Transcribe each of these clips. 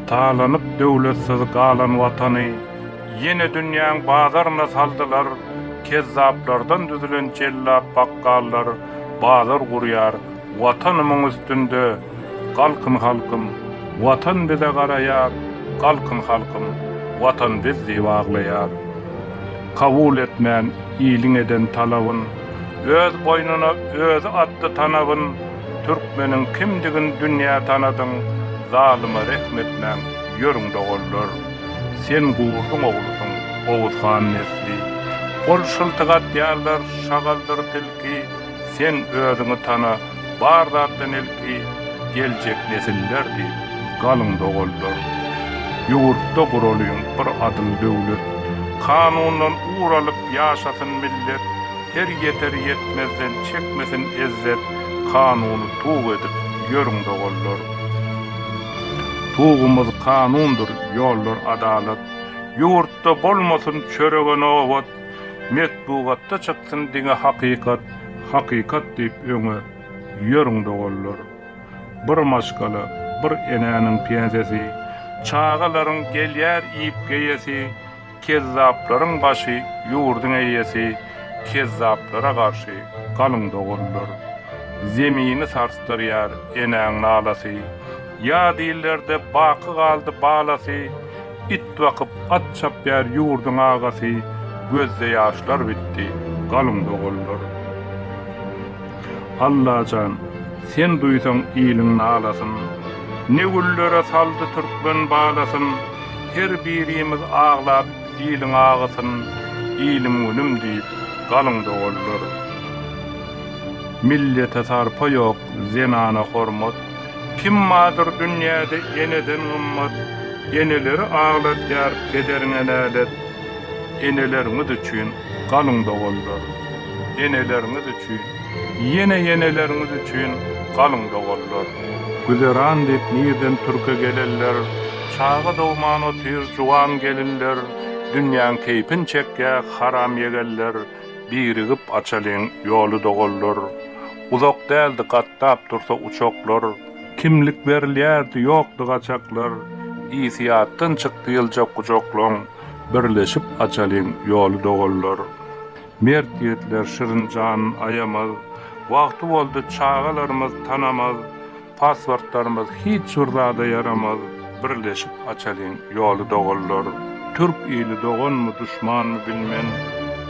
Talanyp döwletsiz galan watany ýene dünýäň bazaryna saldylar, kezzaplardan düzülen jellap bakgallar bazar gurýar, watanymyň üstünde, galkyn halkym, watan bize garaýar, galkyn halkym, watan biz diýip aglaýar. Kabul etmän iliň eden talabyn, öz boýnuna özi atdy tanabyn, Türkmeniň kimdigin dünýä tanadyň zalyma rehm etmäň ýörüň doganlar. Sen gurduň oglusyň oguz han nesli. Gol şyltyk atýarlar şagaldyr tilki sen özüňi tana bar zatdan ilki geljek nesiller diýip galyň doganlar. Ýurtda guralyň bir adyl döwlet. Kanundan ugur alyp ýaşasyn millet. Her ýeter ýetmezden çekmesin ezzet Kanuny tug edip ýörüň doganlar Tugumyz kanundyr ýollar adalat Ýurtda bolmasyn çörege nobat Metbugatda çyksyn diňe hakykat Hakykat diýip öňe ýörüň doganlar Bir maşgala bir enäniň pensiýasy Çagalaryň gelýär iýip geýesi Kezzaplaryň başy ýurduň eýesi kezzaplara garşy galyň doguldyr. Zemini sarsdyrýar enäň nalasy, ýa dillerde baky galdy balasy, it bakyp at çapýar ýurduň agasy gözde ýaşlar bitdi galyň doguldyr. Allajan sen duýsaň iliň nalasyn Ne güllere saldy türkmen balasyn Her birimiz aglap iliň agysyn Ilim günüm diýip galyň doganlar Millete sarpa ýok zenana hormat Kim bardyr dünýäde eneden gymmat Eneleri agladýar pederiňe nälet Eneleriňiz üçin galyň doganlar. Eneleriňiz üçin, ýene ýeneleriňiz üçin galyň doganlar. Güzeran diýip nirden türke gelenler, çaga dogman otyr juwan gelinler, dünýäň keýpin çekýä haram ýegenler, birigip açalyň ýoly doganlar. Uzak däldi gatdap dursa uçaklar. Kimlik berilýärdi ýokdy gaçaklar, ýsy ýatdan çykdy ýylja gujaklaň. Birleşip açalyň ýoly doganlar. Mert ýigitler şirin janyn aýamaz, Wagty boldy çagalarymyz tanamaz, Pasportlarymyz hiç bir zada ýaramaz, Birleşip açalyň ýoly doganlar. Türk ili doganmy duşmanmy bilmen,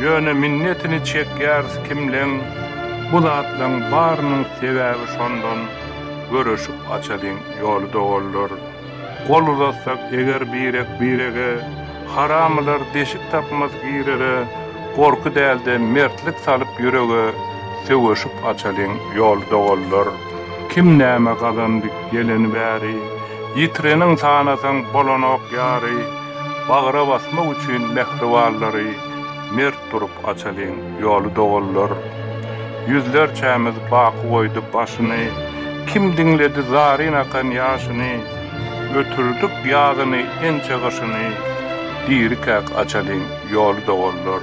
Ýöne minnetini çekýäris kimleň, Bu zatlaň barynyň sebäbi şondan, Göreşip açalyň ýoly doganlar. Gol uzatsak eger birek-birege, Haramylar deşik tapmaz girere, Gorky däl-de mertlik salyp ýürege, Söweşip açalyň ýoly doganlar. Kim näme gazandy geleni bäri, Ýitirenin sanasaň bolanok ýary, Bagra basmak üçin mähribanlary, Mert Durup açalyň ýoly doganlar. Ýüzlerçämiz baky goýdy başyny, Kim diňledi zaryn akan ýaşyny, Ötürdik ýazyny, ençe gyşyny, Dirikäk açalyň ýoly doganlar.